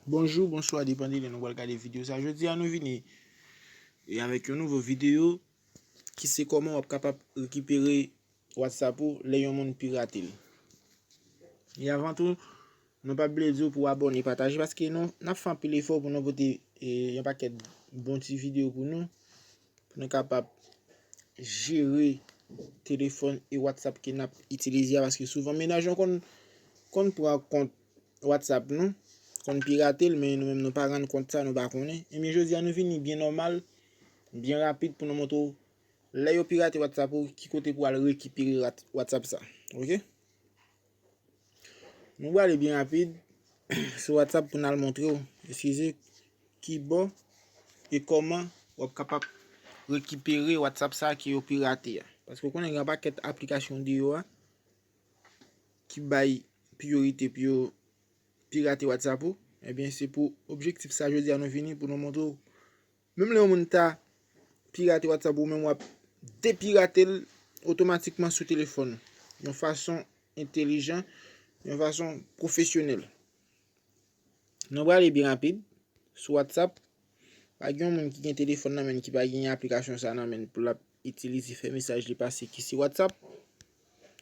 Bonjou, bonswa depan de lè nou pral gade videyo sa Jodi a nou vini e avèk yon nouvo videyo ki se kòman wap kapab rekipere WhatsApp ou lè yon moun pirate l E avan tou, nou pa bliye di w pou abone, pataje paske nou nap fè anpil efò pou nou pote yon pakèt bon ti videyo pou nou Pou nou kapab jere telefòn e WhatsApp ke nap itilize a paske souvan menaj yo konn konn pran kont WhatsApp nou, konn pirate l men nou menm nou pa rann kont sa nou pa konnen. Ebyen jodi a nou vini byen nòmal, byen rapid pou nou montre w lè yo pirate WhatsApp ou ki kote pou al rekipere WhatsApp sa. Ok. Nou prale byen rapid sou WhatsApp pou nan montre ou, eskize, ki bò e kòman wap kapab rekipere WhatsApp sa ki yo pirate a. Paske konnen gen pa kèt aplikasyon di yo a ki bay priorite pou yo pirate WhatsApp ou, ebyen se pou objektif sa jodi a nou vini pou nou montre ou Menm lè yon moun ta pirate WhatsApp ou menm wap depirate l otomatikman sou telefòn ou yon fason entelijan, yon fason pwofesyonèl. Nou prale byen rapid sou WhatsApp pa gen yon moun ki gen telefòn nan men ki pa gen aplikasyon sa nan men pou l ap itilize fè mesaj li pase ki se WhatsApp.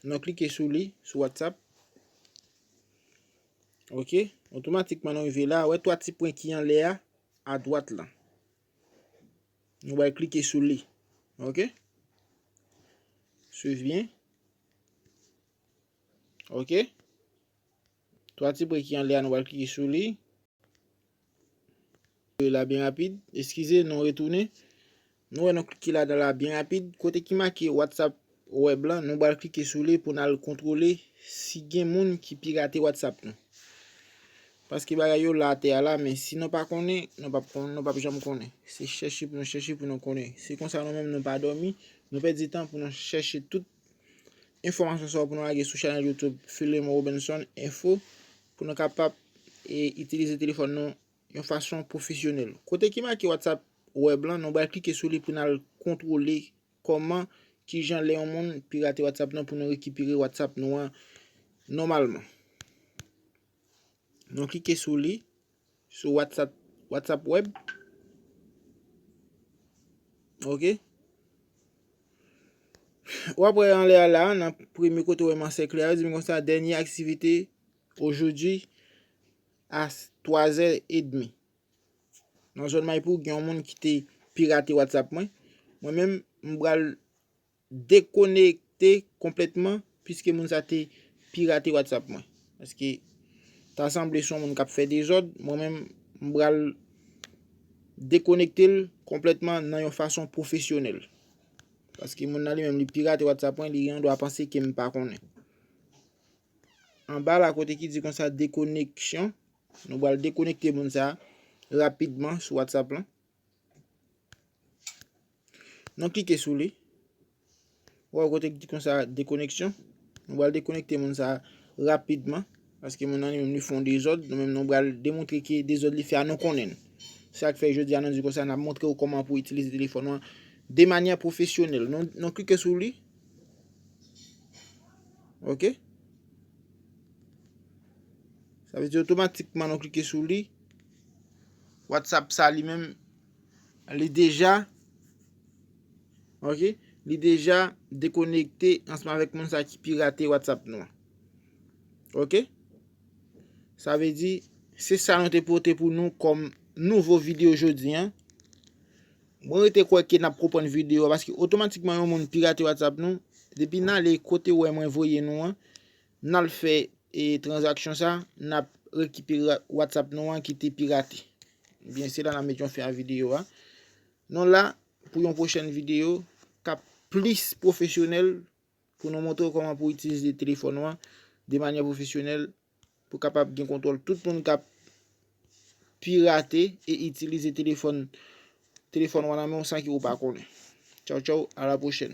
Nou klike sou li sou WhatsApp. Ok, otomatikman nou rive la, wè 3 ti pwen ki anlè a. adwat lan. Nou bay klike sou li. Ok. Swiv byen. Ok. Twa ti pre ki anle a nou bay klike sou li. La byen rapid. Eskize nou retounen. Nou wè nou klike ladan la byen rapid, kote ki make WhatsApp web lan, nou bal klike sou li pou nal kontwole si gen moun ki pirate WhatsApp nou. Paske bagay yo la atè a la men si nou pa konnen, nou pap konnen, nou pap janm konnen. Se chèche pou nou chèche pou nou konnen. Se konsa nou menm nou pa dòmi, nou pèdi tan pou nou chèche tout enfòmasyon sa yo pou nou lage sou chanèl YouTube Philemon Robinson Info pou nou kapab itilize telefòn nou yon fason pwofesyonèl. Kote ki make WhatsApp Web lan, nou pral klike sou li pou n al kontwole kòman, kijan lè yon moun pirate WhatsApp nou pou nou rekipere WhatsApp nou an nòmalman. Nou klike sou li, sou WhatsApp, WhatsApp Web. Ok. Ou ap wè anlè a la, nan premye kote ou wè m ansèkle a, yo di m konsa, dènye aktivite, ojodi, a 3 zè edmi. Nan zòn Maipou gen yon moun ki te pirate WhatsApp mwen. Mwen menm m pral dekonekte konplètman piske moun sa te pirate WhatsApp mwen. Paske ta sanble son moun kap fè dezòd, mwen menm m pral dekonekte l konplètman nan yon fason pwofesyonèl. Paske moun nan li menm li pirate WhatsApp mwen, li gen yon dwa panse ke m pa konnen. Anba la kote ki di konsa dekoneksyon, nou bal dekonekte moun sa rapidman sou WhatsApp lan. Nou klike sou li. Wè kote ki di konsa dekoneksyon. Nou bal dekonekte moun sa rapidman. Paske moun nan li menm li fon dezod. Nou menm nou bal demontre ki dezod li fè a nou konnen. Sa k fè jodi a nou di konsa nan montre ou koman pou itilize telefon wan. De manya profesyonel. Nou klike sou li. Ok. Sa vle di otomatikman nou klike sou li. WhatsApp sa li menm li deja ok li deja dekonekte ansanm avèk moun sa ki pirate WhatsApp nou. Ok. Sa vle di se sa nou te pote pou nou kòm nouvo video jodi an. Mwen rete kwè ke nap konprann video a paske otomatikman yon moun pirate WhatsApp nou, depi nale kote ou wè mwen voye nou an, nal fè transaction sa, nap rekipere WhatsApp nou an ki te pirate. Ebyen se la nap met yon fen a video a. Nou la pou yon pwochèn video kap plis pwofesyonèl pou nou montre ou kòman pou itilize telefòn ou an de manyè pwofesyonèl pou kapab gen kontwòl tout moun k ap pirate e itilize telefòn telefòn wa nan men w san ke ou pa konnen. Tchaw tchaw, a la pwochèn.